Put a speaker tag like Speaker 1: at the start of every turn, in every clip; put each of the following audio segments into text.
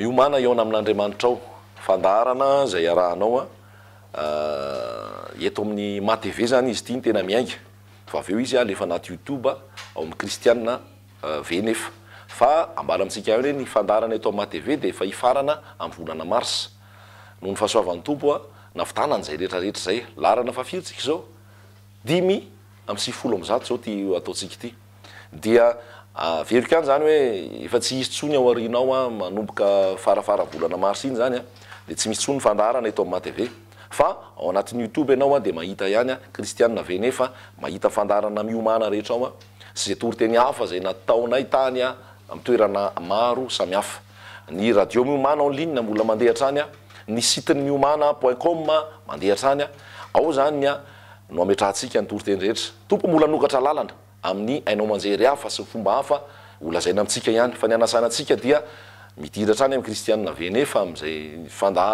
Speaker 1: Miomana hihaona amin'Andriamanitrao. Fandaharana izay iarahanao a, eto amin'ny ma TV izany izy ity no tena miainga, fa avy eo izy alefa anaty youtube ao amin'ny kristiana ve nefa. Fa ambara amintsika ihany hoe ny fandaharana eto amin'ny ma TV dia efa hifarana amin'ny volana marsa. Noho ny fahasoavan'ny Tompo a, navitanany izay rehetra rehetra izay. Laharana fahafiry tsika izao? Dimy amby sivifolo amby zato izao ity ataontsika ity. Dia averiko ihany izany hoe efa tsy hisy intsony ao aorianao a, manomboka fara fara volana marsa iny izany a, dia tsy misy intsony ny fandaharana eto amin'ny matv. Fa ao anatin'ny youtube ianao a, dia mahita ihany a, kristiana ve ne fa mahita ny fandaharana miomana rehetra ao a, sy izay toriteny hafa izay nataonay tany a, amin'ny toerana maro samihafa. Ny Radio Miomàna en ligne mbola mandeha hatrany, ny site ny miomàna point com mandeha hatrany, ao izany no ametrahantsika ny toriteny rehetra. Tompo mbola hanokatra lalana amin'ny haino aman-jery hafa sy fomba hafa holazaina amintsika ihany, fa ny hanasana antsika dia midira hatrany amin'ny Kristianina Venefa amin'izay fandà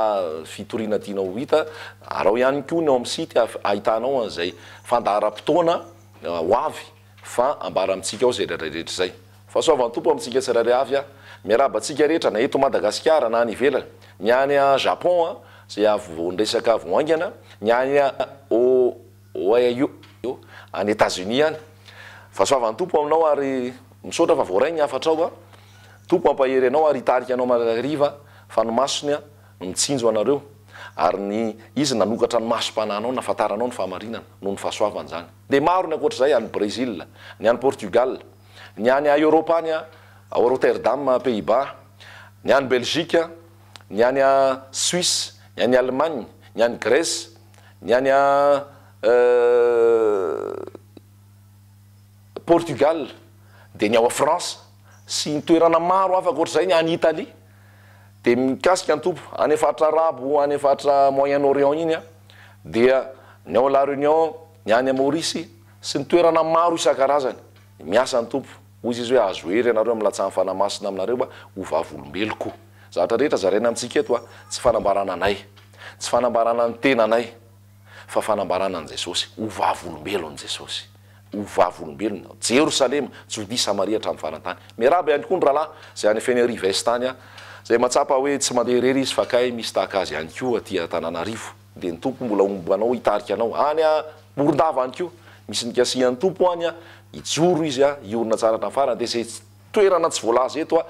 Speaker 1: fitoriana tianao ho hita, araho ihany koa ny ao amin'ny site ahafahanao an'izay fandà ara-potoana ho avy. Fa ambara amintsika ao izay rehetra izay. Fahasoavan'ny Tompo amintsika tsirairay avy a! Miarahaba antsika rehetra na eto Madagasikara na any ivelany, ny any Japon a, izay avy vao niresaka avy ho haingana, ny any Ohio, any Etazonia any. Fahasoavan'ny Tompo aminao ary misaotra fa voaray ny hafatrao a! Tompo hampahery anao ary hitarika anao mandrakariva fa ny masony a! Mitsinjo anareo. Ary ny Izy nanokatra ny masom-panahinao nahafantaranao ny fahamarinana, noho ny fahasoavany izany. Dia maro ny ankoatra izay, any Brésil, ny any Portugal, ny any a Eoropa any a, ao Rotterdam, Pays-Bas, ny any Belgique, ny any a Suisse, ny any Allemagne, ny any Grèce, ny any a eh Portugal, dia ny ao a France, sy ny toerana maro hafa ankoatra izay, ny any Italie. Dia mikasika ny toby any faritra arabo any faritra moyen orient iny dia ny ao la reunion ny any maurice sy ny toerana maro isan-karazany miasa ny toby hoy izy izy hoe azo hery ianareo amin'ny latsahan'i fanamasina aminareo a ho vavolombeloko zavatra rehetra zaraina amintsika eto a tsy fanambarana anay tsy fanambarana ny tenanay Fa fanambarana an'i Jesosy. Ho vavolombelon'i Jesosy. Ho vavolombelony aho. Jerosalema, Jodia, Samaria hatramin'ny faran'ny tany. Miarahaba ihany koa ny rahalahy izay any Fenerive-Est any, izay mahatsapa hoe tsy mandeha irery izy fa kay misy tahaka azy ihany koa aty Antananarivo. Dia ny Tompo mbola homba anao hitarika anao. Any Morondava ihany koa, misy ny Kasihan'ny Tompo any, hijoro izy, hiorina tsara hatramin'ny farany. Dia izay toerana tsy voalaza eto,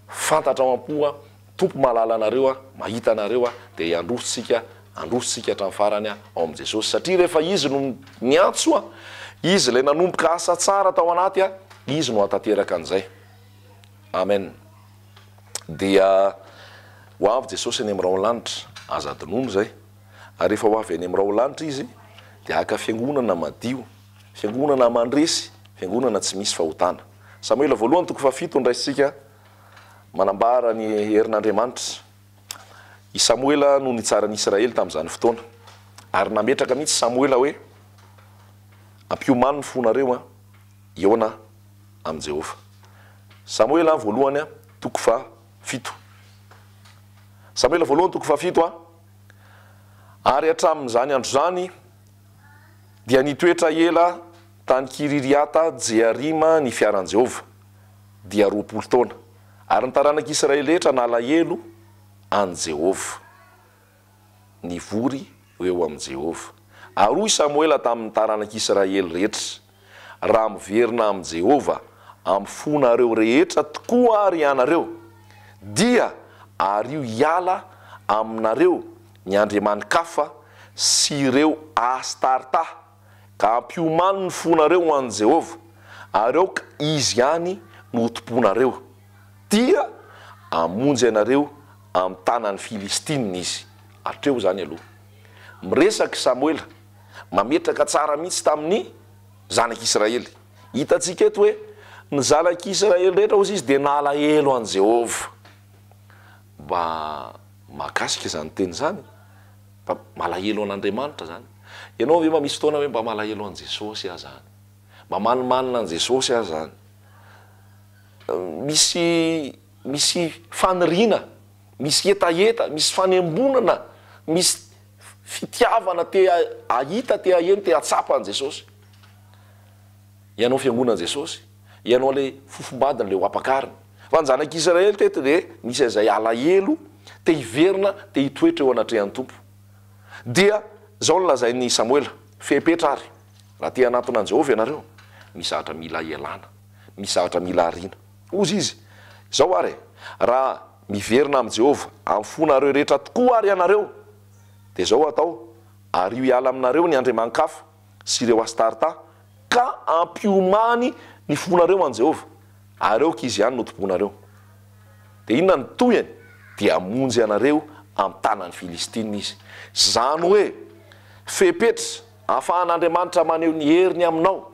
Speaker 1: fantatrao am-po. Tompo mahalala anareo aho, mahita anareo aho, dia hiandroso tsika, androso tsika hatramin'ny farany aho ao amin'i Jesosy, satria rehefa Izy no niantso aho, Izy ilay nanomboka asa tsara tao anaty aho, Izy no hahatateraka an'izay. Amen. Dia ho avy Jesosy any amin'irao lanitra, aza adinoina izay, ary rehefa ho avy any amin'irao lanitra Izy, dia haka fiangonana madio, fiangonana mandresy, fiangonana tsy misy fahotana. Samoela voalohany toko fahafito no raisintsika. Manambara ny herin'Andriamanitra. I Samoela no nitsaran'i Israely tamin'izany fotoana. Ary nametraka mihitsy Samoela hoe, Ampiomano ny fonareo an! Hihaona amin'i Jehovah. Samoela voalohany an, toko fahafito. Samoela voalohany toko fahafito an. Ary hatramin'izany andro izany dia nitoetra ela tany Kiririata-jearima ny fiaran'i Jehovah. dia roapolo taona, ary ny taranak'i Israely rehetra nalahelo an'i Jehovah. Nivory ho eo amin'i Jehovah. Ary hoy Samoela tamin'ny taranak'i Israely rehetra, Raha miverina amin'i Jehovah amin'ny fonareo rehetra tokoa àry ianareo, dia ario hiala aminareo ny andriamani-kafa sy ireo Astarta. ka hampiomano ny fonareo ho an'i Jehovah, ary aoka izy ihany no hotompoinareo, dia hamonjy anareo amin'ny tanan'ny Filistinina izy. Hatreo izany aloha. Miresaka i Samoela, mametraka tsara mihitsy tamin'ny zanak'Israely. Hitantsika eto hoe ny zanak'Israely rehetra, hoy izy, dia nalahelo an'i Jehovah. Mba mahakasika izany teny izany. Mba malahelo an'Andriamanitra zany. Ianao ve mba misy fotoana hoe mba malahelo an'i Jesosy aho zany? Mba manimanina an'i Jesosy aho zany? Misy misy faniriana, misy hetaheta, misy fanembonana, misy fitiavana te hahita, te haheno, te hahatsapa an'i Jesosy? Ianao fiangonan'i Jesosy, Ianao ilay fofombadiny, ilay ho ampakariny. Fa ny zanak'Israely teto dia nisy izay alahelo te hiverina, te hitoetra eo anatrehan'ny Tompo. Dia izao no lazain'i Samoela, Fepetra àry, raha te hanantona an'i Jehovah ianareo, misy zavatra mila ialana, misy zavatra mila ariana. Hozy izy, Izao àry e, raha miverina amin'i Jehovah amin'ny fonareo rehetra tokoa àry ianareo, dia izao atao, ario hiala aminareo ny andriaman-kafa. sy ireo Astarta, ka ampiomany ny fonareo an'i Jehovah, ary aoka izy ihany no tomponareo. Dia inona no tohiny? Dia hamonjy anareo amin'ny tanan'ny Filistina izy. Izany hoe, fepetra ahafahan'Andriamanitra maneho ny heriny aminao,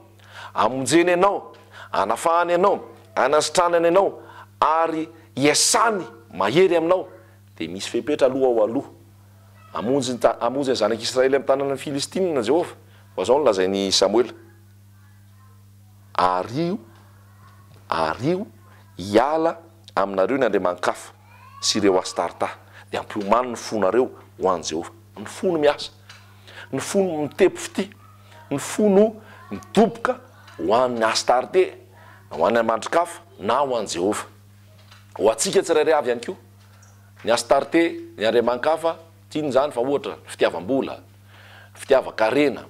Speaker 1: hamonjeny anao, hanafahany anao, hanasitranany anao, ary hiasany mahery aminao. Dia misy fepetra aloha ao aloha Hamonjy ny ta, hamonjy ny Zanak'i Israely amin'ny tanan'ny Filistinina Jehovah, fa izao no lazain'i Samoela, Ario, ario hiala aminareo ny andriamani-kafa sy ireo Astarta, dia ampiomano ny fonareo ho an'i Jehovah. Ny fo no miasa, ny fo no mitepy fitia, ny fo no midoboka ho an'i Astarte, na ho an'ny andrimanikafa, na ho an'i Jehovah. Ho antsika tsirairay avy ihany koa. Ny Astarte, ny andriamanikafa, tiany izany fa ohatra, fitiavam-bola, fitiavan-karena,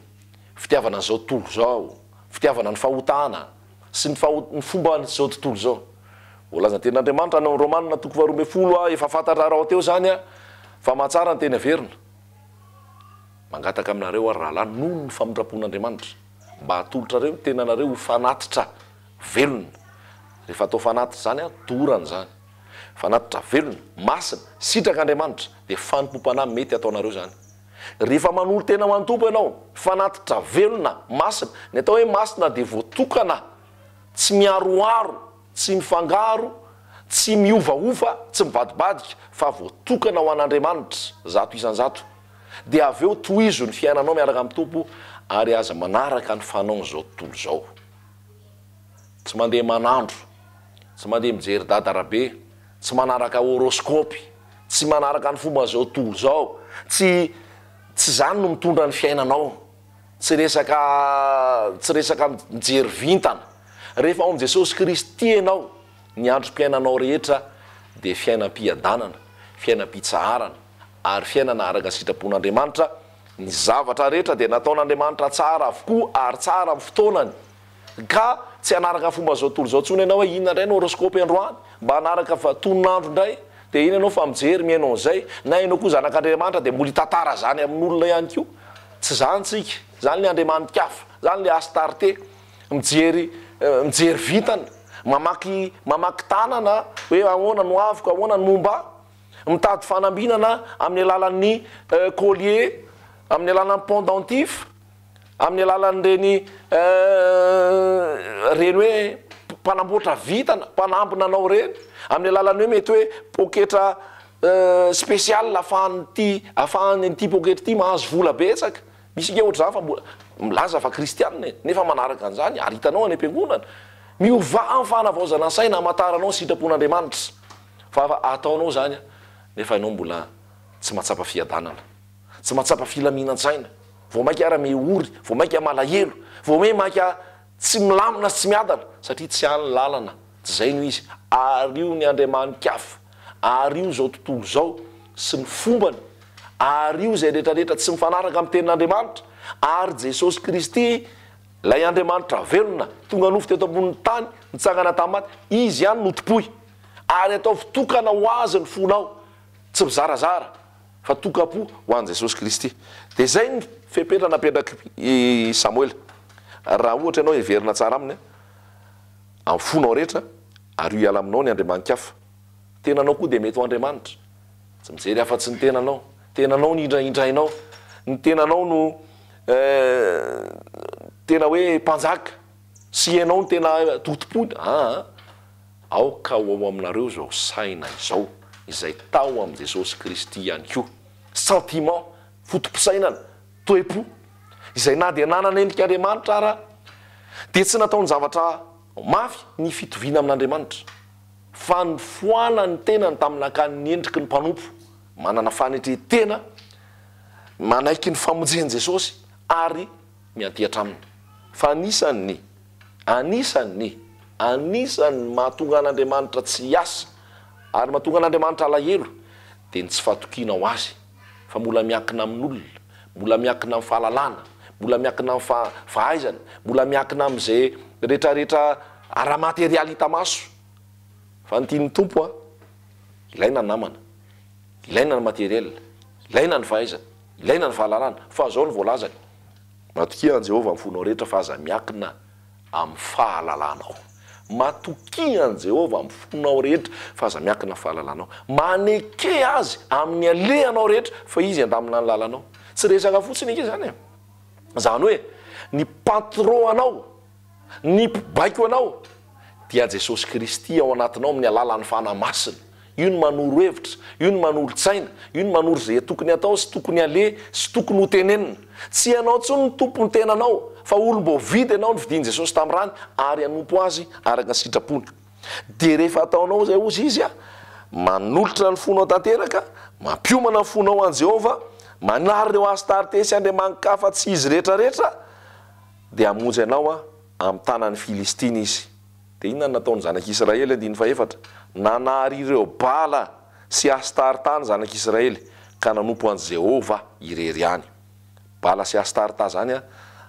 Speaker 1: fitiavana an'izao tontolo izao, fitiavana ny fahotana sy ny faho- ny fomban'izao tontolo izao. Voalazan'ny tenin'Andriamanitra any amin'ny Romana toko faharoa ambin'ny folo a Efa fantatra rahateo izany a fa mahatsara ny teny averina. Mangataka aminareo ary rahalahy, noho ny famindram-pon'Andriamanitra, mba hatolotrareo ny tenanareo ho fanatitra velona. Rehefa atao fanatitra izany a, dorana izany. Fanatitra velona, masina, sitrak' Andriamanitra, dia fanompoam-panahy mety ataonareo izany. Rehefa manolo-tena ho an'ny Tompo ianao, fanatitra velona, masina, ny atao hoe masina dia voatokana, tsy miharoharo, tsy mifangaro, tsy miovaova, tsy mivadibadika, fa voatokana ho an' Andriamanitra zato isan-jato. Dia avy eo tohizo ny fiainanao miaraka amin'ny Tompo ary aza manaraka ny fanaon'izao tontolo izao. Tsy mandeha manandro, tsy mandeha mijery dada arabe, tsy manaraka horoscope, tsy manaraka ny fomba zao tontolo zao, tsy tsy zany no mitondra ny fiainanao, tsy resaka tsy resaka mijery vintana, rehefa ao amin'i Jesosy Kristy ianao, ny androm-piainanao rehetra dia fiainam-piadanana, fiainam-pitsaharana ary fiainana araka ny sitrapon'Andriamanitra, ny zavatra rehetra dia nataon'Andriamanitra tsara avokoa ary tsara amin'ny fotoanany, Ka tsy hanaraka fomba zao tontolo zao tsony enao hoe inona ndray no horoscope androany mba hanaraka fa tonon'andro ndray de iny enao fa mijery mihaino an'zay na enao koa zanak'Andriamanitra de mbola hitatara zany amin'olona ihany koa tsy zany tsika zany le Andriamanikafa zany le Astarte mijery mijery vintana mamaky mamaky tanana hoe ahoana no avoko ahoana no momba ahy mitady fanambinana amin'ny alalan'ny collier amin'ny alalan'ny pendentif amin'ny alalan'ireny ireny hoe mpanamboatra vintana, mpanampy nanao ireny, amin'ny alalan'ny hoe mety hoe poketra spécial ahafahan'ity ahafahan'ny an'ity poketra ity mahazo vola betsaka, misy ange ohatr'izany fa mbola milaza fa kristianina e, nefa manaraka an'izany ary hitanao any am-piangonana, miovà amin'ny fanavaozana saina hamantaranao ny sitrapon'Andriamanitra fa ataonao izany nefa ianao mbola tsy mahatsapa fiadanana. Tsy mahatsapa filaminan-tsaina. Vao mainka ara me ory, vao mainka malahelo, vao me maika tsy milamina sy tsy miadana satria tsy any ny lalana, tsy izay no izy. Ario ny andriamani-kafa, ario izao tontolo izao sy ny fombany, ario izay rehetrarehetra tsy mifanaraka amin'ny tenin'Andriamanitra, ary Jesosy Kristy, Ilay Andriamanitra velona, tonga nofo teto ambonin'ny tany, nitsangana tamin'ny maty, Izy ihany no tompoy. Ary ataovy tokana ho Azy ny fonao, tsy mizarazara. fa tokam-po ho an'i Jesosy Kristy. Dia izay ny fepetra napetrak'i Samoela. Raha ohatra ianao heverina tsara aminy amin'ny fonao rehetra, ario hiala aminao ny andriamani-kafa. Tenanao koa dia mety ho andriamanitra. Tsy mijery afa-tsy ny tenanao. Tenanao no hindrahindrainao. Ny tenanao no tena hoe mpanjaka. Tsy ianao no tena totompony aa. Aoka ho ao aminareo izao saina izao izay tao amin'i Jesosy Kristy ihany koa. Sentiment, foto-pisainana, toe-po, izay na dia nanana endrika Andriamanitra ara dia tsy nataon-javatra mafy ny fitoviana amin'Andriamanitra. Fa nifoana ny tenany tamin'ny nakanin'ny endriky ny mpanompo, manana fanetren-tena manaiky ny famonjen'i Jesosy ary miantiatra aminy, fa anisan' ny, anisan' ny, anisan' ny mahatonga an' Andriamanitra tsy hiasa ary mahatonga an' Andriamanitra alahelo dia ny tsy fahatokiana ho Azy, fa mbola miankina amin' olona, mbola miankina amin' ny fahalalana, mbola miankina amin' ny fahaizana, mbola miankina amin' izay rehetrarehetra ara-materialy hita maso, fa ny tian' ny Tompo an, ilaina ny namana, ilaina ny materiel, ilaina ny fahaizana. Ilaina ny fahalalana, fa izao no voalazany. Matokia an'i Jehovah amin'ny fonao rehetra, fa aza miankina amin'ny fahalalanao. Matokia an'i Jehovah amin'ny fonao rehetra, fa aza miankina amin'ny fahalalanao. Maneke azy amin'ny alehanao rehetra, fa izy handamina ny lalanao. Tsy resaka fotsiny ange izany e. Izany hoe, ny patron-nao. Ny mpibaiko anao dia Jesosy Kristy ao anatinao amin'ny alalan'ny Fanahy Masina. Io no manoro hevitra, io no manoro tsaina, io no manoro izay tokony hatao sy tokony haleha sy tokony hotenenina. Tsy ianao intsony no tompon'ny tenanao fa olom-boavidy ianao novidian'i Jesosy tamin'ny rany ary hanompo Azy araka ny sitrapony. Dia rehefa ataonao izay hozy Izy, manolotra ny fonao tanteraka, mampiomana ny fonao ho an'i Jehovah, manary ireo hasitaritesy andriamani-kafa tsy izy rehetrarehetra, Dia hamonjy anao aho amin'ny tanan'ny Filistina izy. Dia inona no nataon'ny zanak'Israely? Andininy fahefatra, Nanary ireo Bala sy Astarta ny zanak'Israely, ka nanompo an'i Jehovah irery ihany. Bala sy Astarta izany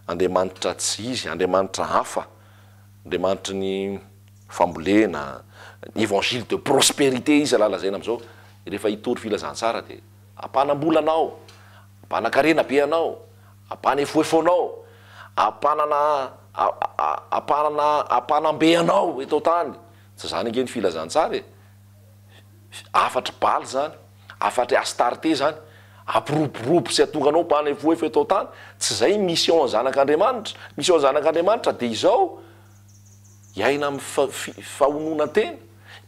Speaker 1: andriamanitra tsy izy, andriamanitra hafa, andriamanitry ny fambolena, ny évangile de prospérité izy raha lazaina amin'izao. Rehefa hitory filazantsara dia hampanam-bola anao, hampanan-karena be anao. Ampanefoefonao, ampanana a a ampanana ampanambe anao eto an-tany. Tsy izany ange ny filazantsara e! Fi hafatr'i Bala izany, hafatr'i Astarte izany. Ampiroborobo sy atonganao mpanefoefo eto an-tany. Tsy izay ny mission ny zanak'Andriamanitra. Mission ny zanak'Andriamanitra dia izao, hiaina amin'ny fa fi fahononan-tena,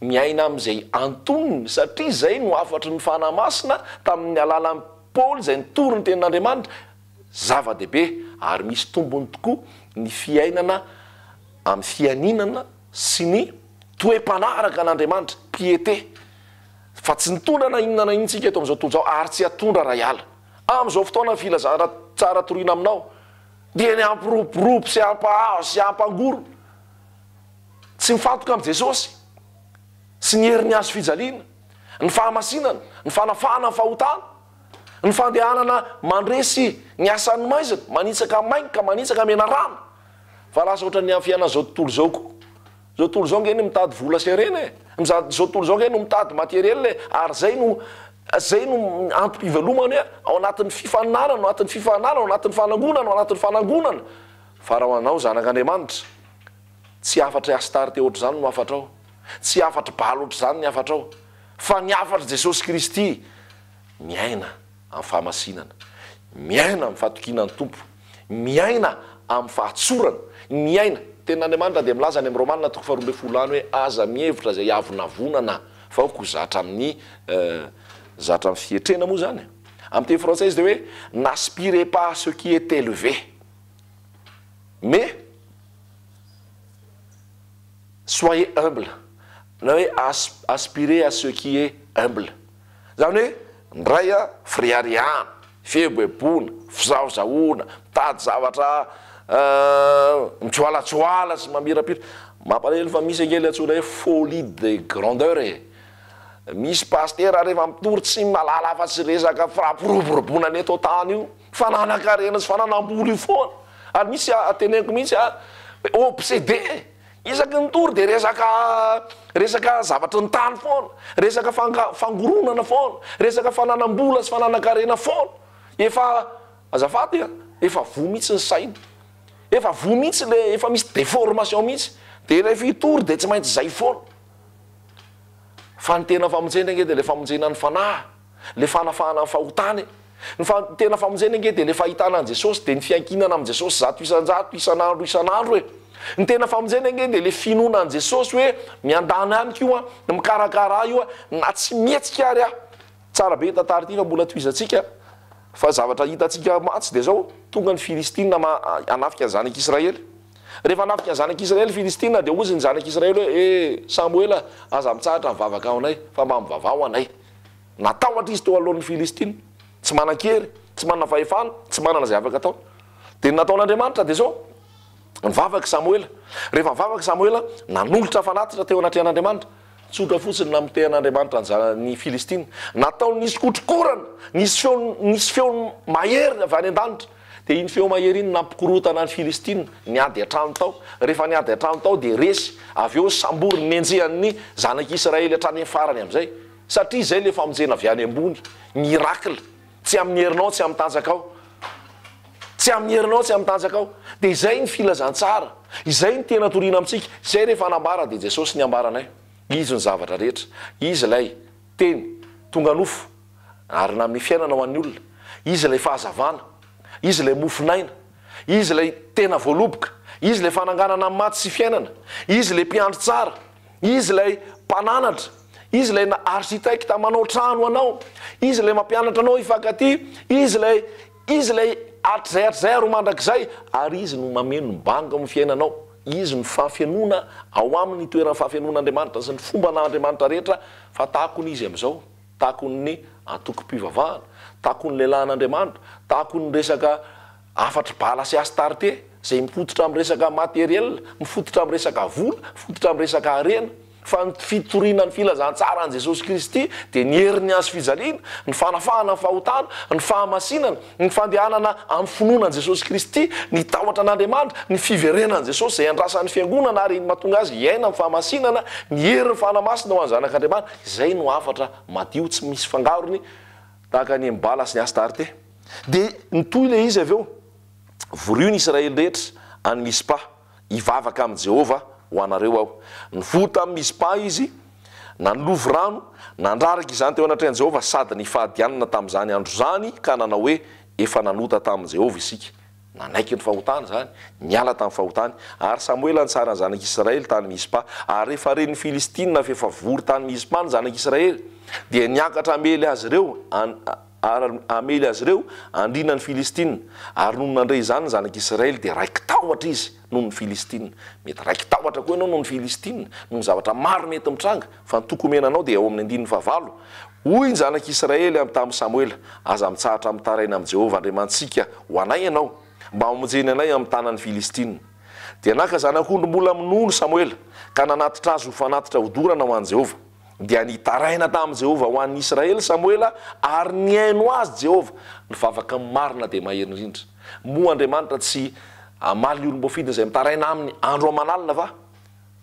Speaker 1: miaina amin'izay antonony, satria izay no hafatry ny Fanahy Masina tamin'ny alalan'ny. Paoly izay nitory ny Tenin'Andriamanitra, Zava-dehibe ary misy tombony tokoa ny fiainana amin'ny fianianana sy ny toe-panaraka an'Andriamanitra, piété, fa tsy nitondra na inona na inona isika eto amin'izao tontolo izao ary tsy hatondra raha hiala. Amin'izao fotoanan'ny filazana tsara toriana aminao dia ny hampiroborobo sy hampahazo sy hampangorona tsy mifantoka amin'i Jesosy sy ny herin'ny hazofijaliana. ny fahamasinana, ny fanafahana ny fahotana, ny fandehanana mandresy ny asan'ny maizina, manitsaka main ka manitsaka menarana, fa lasa ohatran'ny amin'ny fiainan'izao tontolo izao koa. Izao tontolo izao ange no mitady vola sy harena e! Miza- Izao tontolo izao ange no mitady materiel e! Ary izay no, izay no antom-pivelomany e! Ao anatin'ny fifaninanana, ao anatin'ny fifaninanana, ao anatin'ny fanangonana, ao anatin'ny fanangonana. Fa raha ho anao, zanak'Andriamanitra, tsy hafatry Astarte ohatr'izany no hafatrao. Tsy hafatry Baal ohatr'izany ny hafatrao, fa ny hafatr'i Jesosy Kristy, miaina amin'ny fahamasinana, miaina amin'ny fatokiana ny Tompo, miaina amin'ny fahatsorana, miaina, ny Tenin'Andriamanitra dia milaza any amin'ny Romana toko faharoa ambin'ny folo any hoe aza mihevitra izay avonavonana fa ho zatra amin'ny, zatra amin'ny fietrena moa izany e! Amin'ny teny frantsay izy dia hoe n'aspirez pas à ce qui est élevé, mais. Soyez humble na hoe as aspirer à ce qui est humble zany hoe ndray a firihariana, fieboeboana, fizahozahoana, mitady zavatra mitsoalatsoala sy mamirapiratra, mampalahelo fa misy ange le antsoina hoe folie de grandeur e! misy pasitera rehefa mitory tsy malala afa tsy resaka fampiroboroboana ny eto an-tany io, Fananan-karena sy fananam-bola io foana ary misy teneniko mihitsy a obsede isaky ny tory dia resaka resaka zavatry ny tany foana, resaka fanga- fangoronana foana, resaka fananam-bola sy fananan-karena foana. Efa azafady a, efa voa mihitsy ny saina, efa voa mihitsy le efa misy deformation mihitsy dia ilay fitory dia tsy maintsy izay foana. Fa ny tena famonjena ange dia ilay famonjena ny fanahy. Ilay fanafahana ny fahotana e! Ny fa ny tena famonjena ange dia ilay fahitana an'i Jesosy dia ny fiankinana amin'i Jesosy zato isan-jato isan'andro isan'andro e! Ny tena famonjena ange dia ilay finoana an'i Jesosy hoe miandany amiko io an, mikarakara ahy io an, na tsy mihetsika ary aho. Tsara be tantara ity fa mbola tohizantsika fa zavatra hitantsika mantsy dia izao, tonga ny Filistina ma- hanafika ny zanak'Israely. Rehefa hanafika ny zanak'Israely ny Filistina dia hozy ny zanak'Israely hoe, ee Samoela aza mitsahatra mivavaka ho anay fa mba mivavaha ho anay. Natahotra izy teo alohan'ny Filistina, tsy manan-kery, tsy manana fahefana, tsy manana izay afaka ataony. Dia ny nataon'Andriamanitra dia izao, Nivavaka i Samoela. Rehefa nivavaka i Samoela, nanolotra fanatitra teo anatrehan'Andriamanitra. Tsotra fotsiny ny namotehan'Andriamanitra anjara ny Filistina. Nataony nisy kotrokorana, nisy feony, nisy feony mahery avy any an-danitra. Dia iny feo mahery iny nampikorontana ny Filistina niady an-trano tao. Rehefa niady an-trano tao dia resy. Avy eo nisambory ny nenjehan'ny zanak'i Israely hatrany amin'ny farany amin'izay. Satria izay ilay famonjena avy any ambony. Miracle. Tsy amin'ny herinao, tsy amin'ny tanjakao. Tsy amin'ny herinao, tsy amin'ny tanjakao. Dia izay ny filazantsara. Izay ny tena toriana amintsika. Izay rehefa nambara dia Jesosy ny ambaranay. Izy ny zavatra rehetra. Izy ilay Teny tonga nofo. Ary nanome fiainana ho an'ny olona. Izy ilay fahazavana. Izy ilay mofon'aina. Izy ilay tena voaloboka. Izy ilay fananganana ny maty sy fiainana. Izy ilay mpiandry tsara. Izy ilay mpananatra. Izy ilay architecte manao trano ho anao. Izy ilay mampianatra anao hifankatia. Izy ilay, Izy ilay hatrizay hatrizay ary ho mandrakizay. Ary Izy no mameno ny bango amin'ny fiainanao. Izy no fahafenoana ao aminy, ny toeran'ny fahafenoan'Andriamanitra sy ny fomban'Andriamanitra rehetra. Fa tahakony Izy amin'izao. takon'ny antokom-pivavahana, takon'ny lehilahin'Andriamanitra, takon'ny resaka hafatr'i Bala sy Astarte, izay mifototra amin'ny resaka matériel, mifototra amin'ny resaka vola, mifototra amin'ny resaka harena, fa ny fitoriana ny filazantsaran'i Jesosy Kristy dia ny herin'ny hazo fijaliana, ny fanafahana ny fahotana, ny fahamasinana, ny fandehanana amin'ny finoana an'i Jesosy Kristy, ny tahotra an'Andriamanitra, ny fiverenan'i Jesosy izay andrasan'ny Fiangonana ary mahatonga azy hiaina amin'ny fahamasinana, ny herin'ny fanahy masina ho an'ny Zanak'Andriamanitra. Izay no hafatra madio tsy misy fangarony tahaka ny an'i Bala sy ny Astarte. Dia nitohy ilay izy avy eo, Vorio ny Israely rehetra any Mispa, hivavaka amin'i Jehovah ho anareo aho. Nivory tamin'i Mispa izy, nanolovy rano, nandraraka izany teo anatrehan'i Jehovah sady nifadianana tamin'izany andro izany ka nanao hoe, Efa nanota tamin'i Jehovah isika. Nanaiky ny fahotany izany, niala tamin'ny fahotany, ary Samoela nitsara ny zanak'i Israely tany Mizpa. Ary rehefa ren'ny Filistina fa efa vory tany Mizpa ny zanak'i Israely, dia niakatra hamely azy ireo ary hamely azy ireo andrinan'ny Filistina. Ary nony nandre izany ny zanak'i Israely, dia raiki-tahotra izy. noho ny Filistina. Mety raiki-tahotra koa ianao noho ny Filistina, noho ny zavatra maro mety mitranga, fa ny toky omena anao dia ao amin'ny andininy fahavalo, Hoy ny zanak'i Israely tamin'i Samoela, Aza mitsahatra mitaraina amin'i Jehovah Andriamanitsika ho anay ianao, mba hamonjeny anay amin'ny tanan'ny Filistina. Dia naka zanak'ondry mbola minono Samoela, ka nanatitra azy ho fanatitra hodorana ho an'i Jehovah. dia nitaraina tamin'i Jehovah ho an'i Israely Samoela, ary nihaino azy Jehovah. Ny vavaka marina dia mahery indrindra. Moa Andriamanitra tsy hamaly ny olom-boafidiny izay mitaraina aminy andro aman'alina va?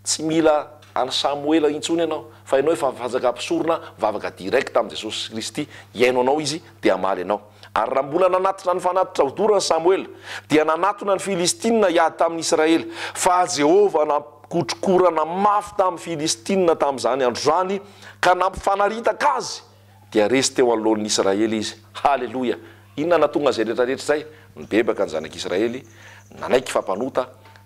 Speaker 1: Tsy mila an'i Samoela intsony ianao, fa ianao efa fanjaka mpisorona mivavaka direct amin'i Jesosy Kristy, hihaino anao Izy dia hamaly anao. Ary raha mbola nanatitra ny fanatitra hodorany Samoela, dia nanatona ny Filistinina hiady tamin'i Israely, fa Jehovah nampikotrokorana mafy tamin'ny Filistinina tamin'izany andro izany, ka nampifanaritaka azy, dia resy teo anoloan'ny Israely izy. Haleloia! Inona no nahatonga izay rehetrarehetra izay? Nibebaka ny zanak'Israely, nanaiky fa mpanota,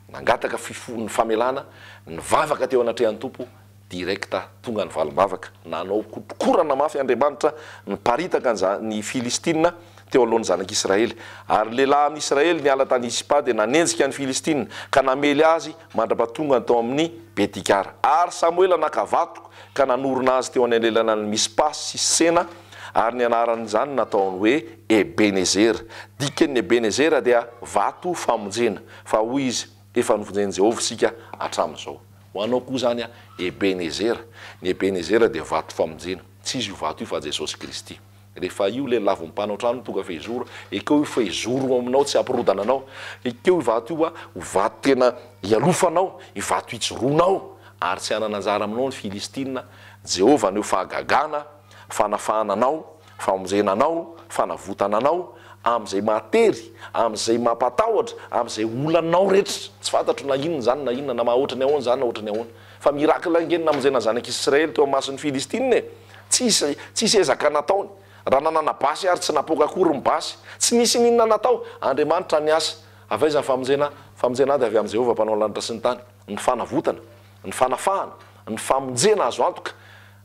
Speaker 1: nangataka fifohon'ny famelana, nivavaka teo anatrehan'ny Tompo, Direct tonga ny valim-bavaka, nanao kotrokorana mafy Andriamanitra niparitaka ny Filistina teo alohan'ny zanak'Israely. Ary ny lehilahy amin'ny Israely niala tany Ispa dia nanenjika ny Filistina ka namely azy mandra-pahatongany tao amin'ny Betikara. Ary Samoela naka vato ka nanorina azy teo anelanelanan'i Mispa sy Sena, ary ny anaran'izany nataony hoe Ebenezera. Dikan'ny Ebenezera dia Vato Famonjena. Fa hoy izy. Efa novonjen'i Jehovah isika hatramin'izao. Ho anao koa izany, Ebenezera. Ny Ebenezera dia vato famonjena. Tsy izy io vato io fa Jesosy Kristy. Rehefa io lelavin'ny mpanao trano tonga fehizoro, ekeo io fehizoro io aminao tsy hampirodana anao. Ekeo io vato io ho vato tena hialofanao, io vato hijoroanao, ary tsy hanana anjara aminao ny Filistina. Jehovah haneho fahagagana, fanafahana anao. Famonjena anao, fanavotana anao amin'izay mahatery, amin'izay mampatahotra, amin'izay olanao rehetra. Tsy fantatro na inona izany na inona, na maha ohatran'ny ahoana izany na ohatran'ny ahoana. Fa miracle ange ny namonjena ny zanak'i Israely teo imason'ny Filistina e! Tsisy, tsisy ezaka nataony. Raha nanana basy ary tsy napoaka akory ny basy. Tsy nisy n'inona natao. Andriamanitra niasa. Avy aiza ny famonjena? Famonjena dia avy amin'i Jehovah Mpanao ny lanitra sy ny tany. Ny fanavotana, ny fanafahana, ny famonjena azo antoka,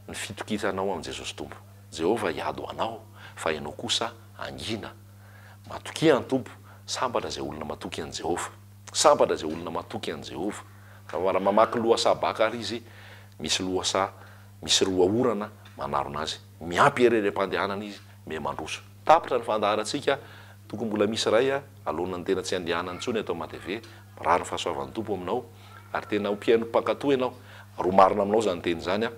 Speaker 1: ny fitokisanao amin'i Jesosy Tompo. Jehovah hiady ho anao, fa ianao kosa hangina. Matokia ny Tompo. Sambatra izay olona matoky an'i Jehovah. Sambatra izay olona matoky an'i Jehovah. Raha mamaky lohasaha baka àry izy, misy lohasaha misy roa orana manarona azy. Miampy ery harem-pandehanana izy, miha mandroso. Tapitra ny fandaharantsika. Tokony mbola misy iray aloana ny tena tsy handehanana intsony eto Matv. Mirary ny fahasoavan'ny Tompo aminao, ary tena ho mpihaino mpankatò ianao, ary ho marina aminao izany teny izany.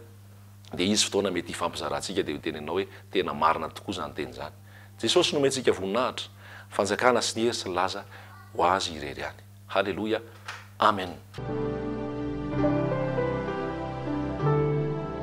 Speaker 1: Dia hisy fotoana mety hifampizarantsika dia ho teny anao hoe, tena marina tokoa izany teny izany. Jesosy nomentsika voninahitra, fanjakana sy ny hery sy ny laza ho Azy irery ihany. Haleloia. Amen.